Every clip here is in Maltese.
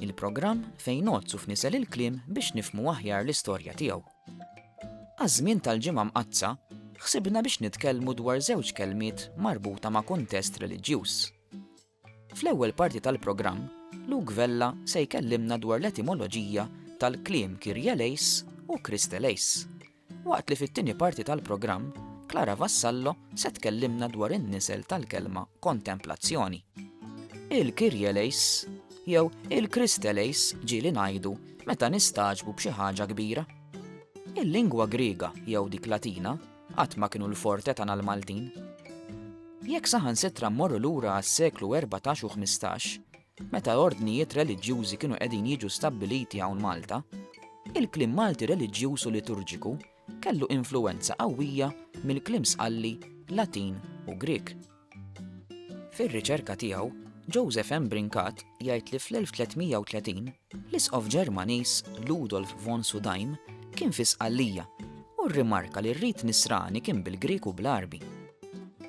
Il-programm fejn ngħoddsu f'nisel il-kliem biex nifhmu aħjar l-istorja tiegħu. Għaż-żmien tal-Ġimgħa Mqaddsa, ħsibna biex nitkellmu dwar żewġ kelmiet marbuta ma' kuntest reliġjuż. Fl-ewwel parti tal-programm, Luke Vella se jkellimna dwar l-etimoloġija tal-kliem Kyrie eleis u Christ eleis. Waqt li fit-tieni parti tal-programm, Clara Vassallo se tkellimna dwar in-nisel tal-kelma kontemplazzjoni. Il-Kyrie Leis jew il-Christe Leis ġieli ngħidu meta nistagħġbu b'xi ħaġa kbira. Il-lingwa Griega jew dik Latina qatt ma kienu l-forte tagħna l-Maltin. Jekk saħansitra mmorru lura għas-seklu 14 u 15, Meta ordnijiet reliġjużi kienu qegħdin jiġu stabbiliti hawn Malta, il-kliem Malti reliġjuż u liturġiku kellu influwenza qawwija mill-kliem Sqalli Latin u Grieg. Fir-riċerka tiegħu, Joseph M. Brincat jgħid li fl-1330, L-Isqof Ġermaniż Ludolf von Sudaim kien fi Sqallija u rrimarka li r-rit Nisrani kien bil-Grieg u bl-Għarbi.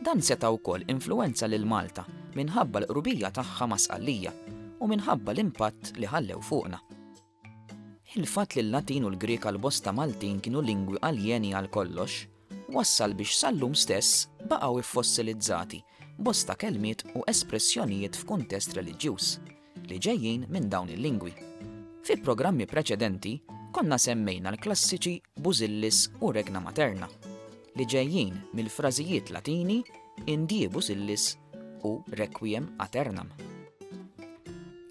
Dan seta' wkoll influwenza lil Malta minħabba l-qrubija tagħha ma' Sqallija u minħabba l-impatt li ħallew fuqna. Il-fatt li l-Latin u l-Grieg għal bosta Maltin kienu lingwi aljeni għal kollox, wassal biex sal-lum stess baqgħu ffossilizzati bosta kelmiet u espressjonijiet f'kuntest reliġjuż. li ġejjin minn dawn il-lingwi. Fi programmi preċedenti konna semmejna l-klassiċi busillis u regna materna li ġejjin mill-frażijiet Latini indie busillis u requiem aternam.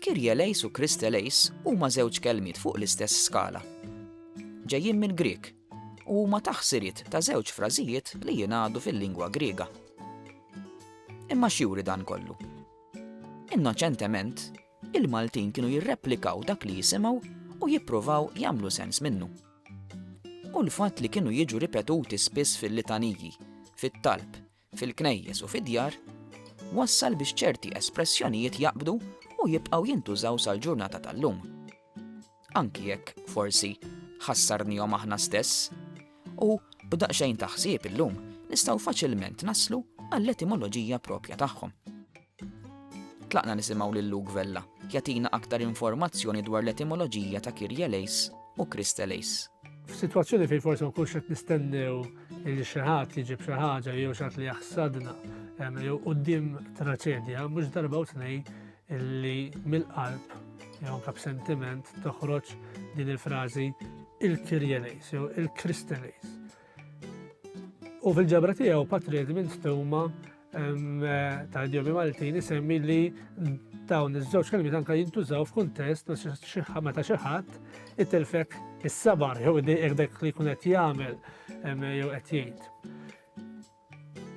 Kirjelejs u kristelejs huma żewġ kelmiet fuq l-istess skala. Ġejjin minn Grieg u huma taħsirit ta' żewġ frażijiet li jingħadu fil-lingwa Griega. Imma x'juri dan kollu? Innoċentement, il-Maltin kienu jirreplikaw dak li jisimgħu u jippruvaw jagħmlu sens minnu. U l-fatt li kienu jiġu ripetuti spiss fil-litaniji, fit-talb, fil-knejjes u fid-djar, wassal biex ċerti espressjonijiet jaqbdu u jibqgħu jintużaw sal-ġurnata tal-lum. anki jekk forsi ħassarnihom aħna stess, u b'daqsxejn taħsib illum nistgħu faċilment naslu għall-etimoloġija propja tagħhom. Tlaqna nisimgħu lil Luke Vella jatina aktar informazzjoni dwar l-etimoloġija ta' Kirja Lejs u Krista Lejs. F'sitwazzjoni fejn forsi ma kunx qed nistennew li xi ħadd jiġib xi ħaġa jew xi li jaħsadna jew quddiem traċedja, mhux darba u tnejn illi mill-qalb jew anke b'sentiment toħroġ din il-frażi il-kirjenejs jew il-kristenejs. U fil-ġabra tiegħu Patri Edmund Stuma ta' idjomi Maltin isemmi li dawn iż-żewġ kelmiet anke jintużaw f'kuntest meta xi ħadd itilfek is-sabar jew dik li jkun qed jagħmel jew qed jgħid.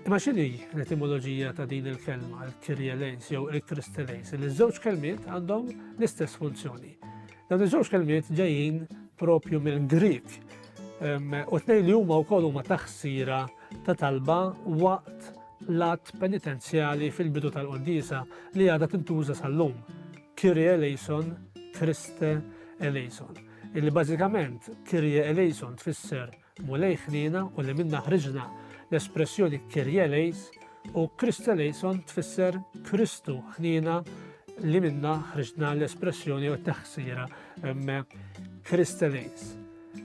Imma x'inhi l-etimoloġija ta' din il-kelma, il-kirje lejns jew il-kriste lejns, li ż-żewġ kelmiet għandhom l-istess funzjoni. Dawn iż-żewġ kelmiet ġejjin propju mill-Grik u tnejn li huma wkoll huma taħsira ta' talba waqt l-att penitenzjali fil-bidu tal-qoddisa li għadha tintuża sal-lum. Kirje eleison, Kriste eleison. Illi bażikament Kirje eleison tfisser Mulej ħniena u li minnha ħriġna, l-espressjoni Kyrie eleis u Christe eleison tfisser Kristu ħniena li minna ħriġna l-espressjoni u t-taħsira Christe eleis.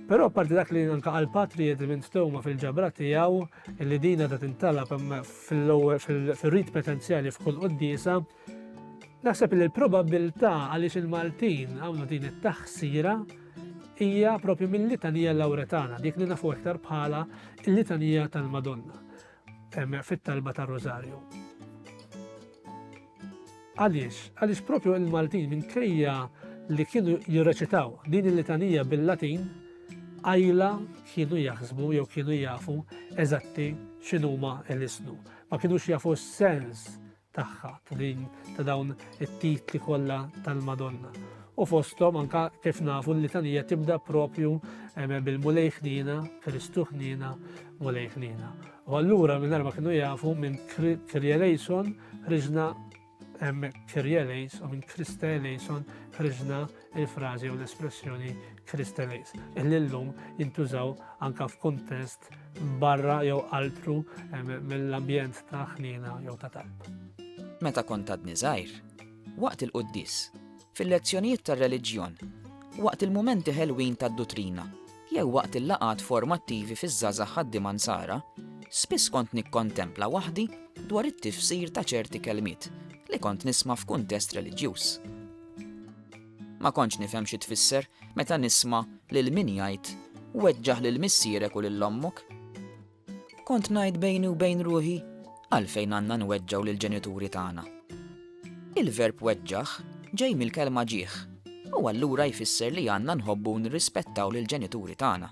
Però parti dak li anka għal patri jedi minn stoma fil-ġabra tiegħu li dina da tintalab fil-rit potenzjali f'kull qoddisa Naħseb li l-probabbiltà għaliex il-Maltin għamlu din it-taħsira hija propju mill-litanija Lawretana, dik li nafu iktar bħala l-litanija tal-Madonna fit-talba tar-Rożarju. Għaliex, għaliex propju il-Maltin minkejja li kienu jirreċitaw din il-litanija bil-Latin, għajla kienu jaħsbu jew kienu jafu eżatti x'inhuma l-isnu. Ma kienux jafu s-sens tagħha ta' din ta' dawn it-titli kollha tal-Madonna. U fosthom anka kif nafu l-litanija tibda propju eh, bil-Mulej ħnina, Kristu ħnina, Mulej ħnina. U allura minn ma kienu jafu minn Kirjelejson ħriġna Kirjelejs u minn Krista Elejson ħriġna il-frażi jew l-espressjoni Kristeles, illi llum jintużaw anka f'kuntest barra jew altru mill-ambjent ta' ħnina jew ta' talb. Meta kont għadni żgħir, waqt il-quddis, fil-lezzjonijiet tar-reliġjon, waqt il-mumenti ħelwin tad-dutrina, jew waqt il-laqat formattivi fiż-żaza ħaddim ansara, spiss kont nikkontempla waħdi dwar it-tifsir ta' ċerti kelmiet li kont nisma' f'kuntest reliġjuż. Ma kontx nifhem xi tfisser meta nisma' lil min jgħid, 'Weġġaħ lil missierek u lil ommok'. Kont ngħid bejni u bejn ruħi, 'Għalfejn għandna nweġġgħu lill-ġenituri tagħna? Il-verb weġġaħ ġej mill-kelma ġieħ u allura jfisser li għandna nħobbu u nirrispettaw lill-ġenituri tagħna.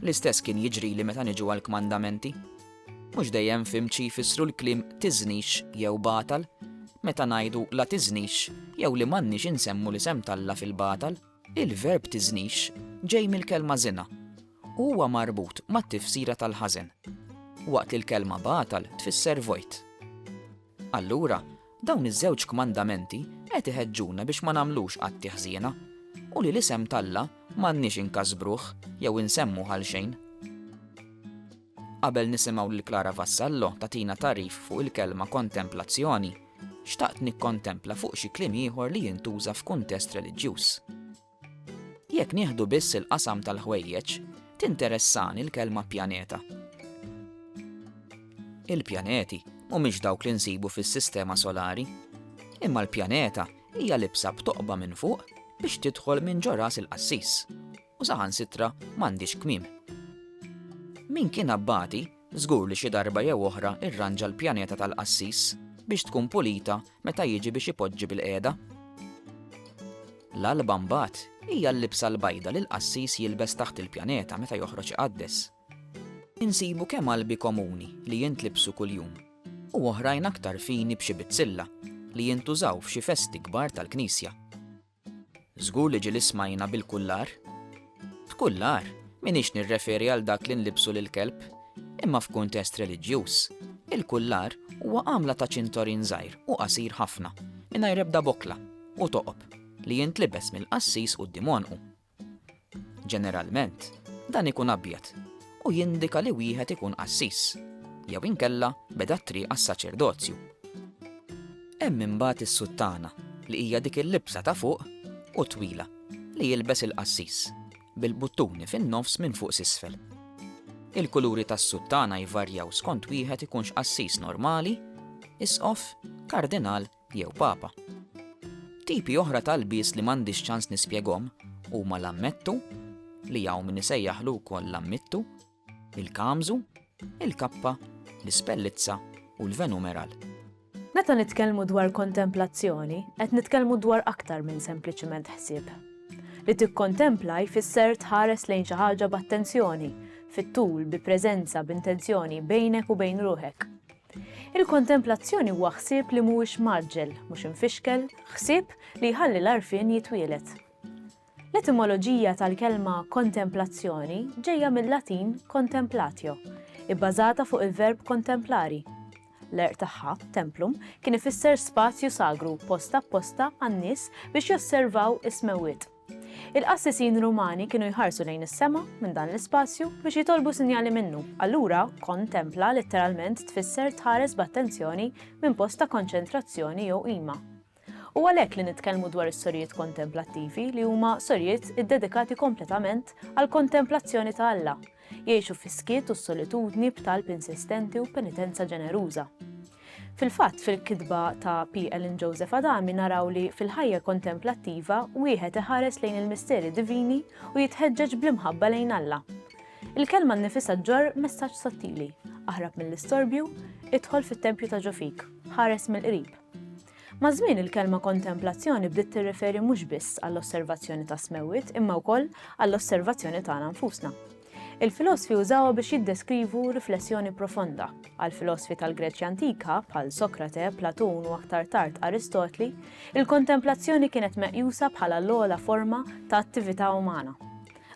L-istess kien jiġrili meta niġu għall-kmandamenti. Mhux dejjem fimt xi jfissru l-kliem tiżnix jew batal, meta ngħidu la tiżnix jew li m'għandniex insemmu l-isem t'Alla fil-batal. Il-verb tiżnix ġej mill-kelma żina u huwa marbut mat-tifsira tal-ħażen, waqt li l-kelma batal tfisser vojt. Allura, dawn iż-żewġ kmandamenti qed iħeġġuna biex ma nagħmlux atti ħżiena, u li l-isem t'Alla m'għandniex inkasbruh jew insemmuh għalxejn. Qabel nisimgħu lil Clara Vassallo tagħtina tagħrif fuq il-kelma kontemplazzjoni, xtaqt nikkontempla fuq xi kliem ieħor li jintuża f'kuntest reliġjuż. Jekk nieħdu biss il-qasam tal-ħwejjeġ, tinteressani l-kelma pjaneta. Il-pjaneti mhumiex dawk li nsibu fis-sistema solari, imma l-pjaneta hija libsa b'toqba minn fuq biex tidħol minn ġo ras il-qassis u saħansitra m'għandhiex kmiem. Min kien abbati Żgur li xi darba jew oħra rranġa l-pjaneta tal-qassis biex tkun pulita meta jiġi biex ipoġġi bil-qiegħda. L-alba mbagħad hija l-libsa l-bajda li l-qassis jilbes taħt il-pjaneta meta joħroġ iqaddes. Insibu kemm albi komuni li jintlibsu kuljum u oħrajn aktar fini b'xi bizzilla li jintużaw f'xi festi kbar tal-knisja. Żgur li ġieli smajna bil-kullar. B'kullar, m'iniex nirreferi għal dak li nlibbsu lill-kelb, imma f'kuntest reliġjuż, il-kullar huwa għamla ta' ċintorin żgħir u qasir ħafna, mingħajr ebda bokla u toqob, li jintlibes mill-qassis quddiem għonqu. Ġeneralment, dan ikun abjad u jindika li wieħed ikun qassis, jew inkella beda t-triq għas-saċerdozju. Hemm imbagħad is-suttana, li hija dik il-libsa ta' fuq u twila li jilbes il-qassis, bil-buttuni fin-nofs minn fuq s'isfel. Il-kuluri tas-suttana jvarjaw skont wieħed ikunx qassis normali, isqof, kardinal jew papa. Tipi oħra ta' lbies li m'għandix ċans nispjegom huma l-ammettu, li hawn min isejjaħlu wkoll l-ammittu, il-kamżu, il-kappa, l-ispellizza u l-venumeral. Meta nitkellmu dwar kontemplazzjoni, qed nitkellmu dwar aktar minn sempliċiment ħsieb. Li tikkontempla jfisser tħares lejn xi ħaġa b'attenzjoni, fit-tul, bi preżenza, b'intenzjoni, bejnek u bejn ruħek. Il-kontemplazzjoni huwa ħsieb li mhuwiex mgħaġġel, mhux imfixkel, ħsieb li jħalli l-għarfien jitwieled. L-etimoloġija tal-kelma kontemplazzjoni ġejja mil-Latin contemplatio, ibbażata fuq il-verb kontemplari. L-għerq tagħha, templum, kien ifisser spazju sagru post apposta għan-nies biex josservaw is-smewwiet. Il-qassisin Rumani kienu jħarsu lejn is-sema minn dan l-ispazju biex jitolbu sinjali minnu, allura kon templa litteralment tfisser tħares b'attenzjoni minn post ta' konċentrazzjoni jew qima. U għalhekk li nitkellmu dwar is-sorijiet kontemplattivi li huma sorijiet iddedikati kompletament għall-kontemplazzjoni ta' Alla, jgħixu fis-skiet u s-solitudni b'talb insistenti u penitenza ġeneruża. Fil-fatt, fil-kitba ta' P. Ellen Joseph Adami naraw li fil-ħajja kontemplattiva wieħed iħares lejn il-misteri divini u jitħeġġeġ bl-imħabba lejn Alla. Il-kelma nnifisha ġġorr messaġġ sottili, aħrab mill-istorbju, idħol fit-tempju ta' ġo fik, ħares mill-qrib. Maż-żmien il-kelma kontemplazzjoni bdiet tirreferi mhux biss għall-osservazzjoni tas-smewwiet imma wkoll għall-osservazzjoni tagħna nfusna. Il-filosfi użawha biex jiddeskrivu riflessjoni profonda. Għall-filosfi tal-Greċja antika, bħal Sokrate, Platun u aktar tard Aristotli, il-kontemplazzjoni kienet meqjusa bħala l-ogħla forma ta' attività umana.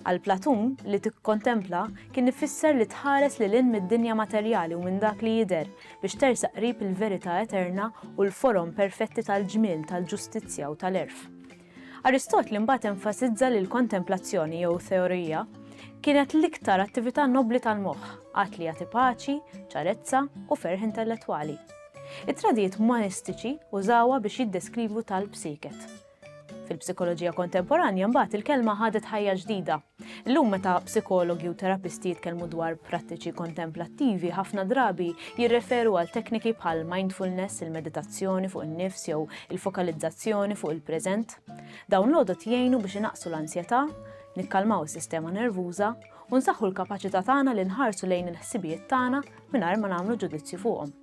Għal Platun, li tikkontempla kien ifisser li tħares li lin mid-dinja materjali u minn dak li jidher biex tersaq qrib il-verità eterna u l-forom perfetti tal-ġmiel, tal-ġustizzja u tal-erf. Aristotli mbagħad enfasizza li l-kontemplazzjoni, jew theoria, kienet l-iktar attività nobbli tal-moħħ, att li jagħti paċi, ċarezza u ferħ intellettwali. It-tradijiet umanistiċi użawha biex jiddeskrivu tal-psiket. Fil-psikoloġija kontemporanja mbagħad il-kelma ħadet ħajja ġdida, Illum meta psikologi u terapisti jitkellmu dwar prattiċi kontemplattivi, ħafna drabi jirreferu għal tekniki bħal mindfulness, il-meditazzjoni fuq in-nifs jew il-fokalizzazzjoni fuq il-preżent. Dawn l-għodot jgħinu biex inaqsu l-ansjetà, nikkalmaw is-sistema nervuża u nsaħħu l-kapaċità tagħna li nħarsu lejn il-ħsibijiet tagħna mingħajr ma nagħmlu ġudizzju fuqhom.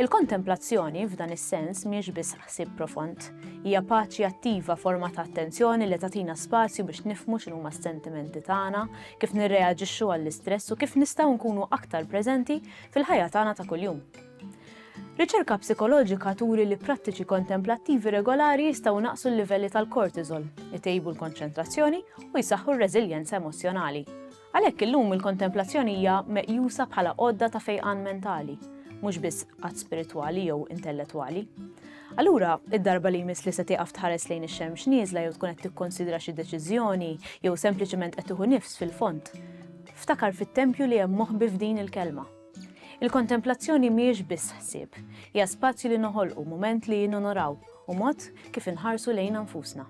Il-kontemplazzjoni f'dan is-sens mhiex biss ħsieb profond, hija paċi attiva forma ta' attenzjoni li tagħtina spazju biex nifmu x'inhuma s-sentimenti tagħna, kif nirreaġixxu għall-istress u kif nistgħu nkunu aktar preżenti fil-ħajja tagħna ta' kuljum. Riċerka psikoloġika turi li prattiċi kontemplattivi regolari jistgħu naqsu l-livelli tal-kortizol, itejbu l-konċentrazzjoni u jsaħħu r-reżiljenza emozjonali. Għalhekk illum il-kontemplazzjoni hija meqjusa bħala għodda ta' fejqan mentali, mhux biss att spiritwali jew intellettwali. Allura, id-darba li jmiss li se tieqaf tħares lejn ix-xemx nieżla jew tkun qed tikkonsidra xi deċiżjoni jew sempliċement qed tieħu nifs fil-fond, ftakar fit-tempju li hemm moħbi f'din il-kelma. Il-kontemplazzjoni mhijiex biss ħsieb, hija spazju li noħolqu mument li nonoraw u mod kif inħarsu lejna nfusna.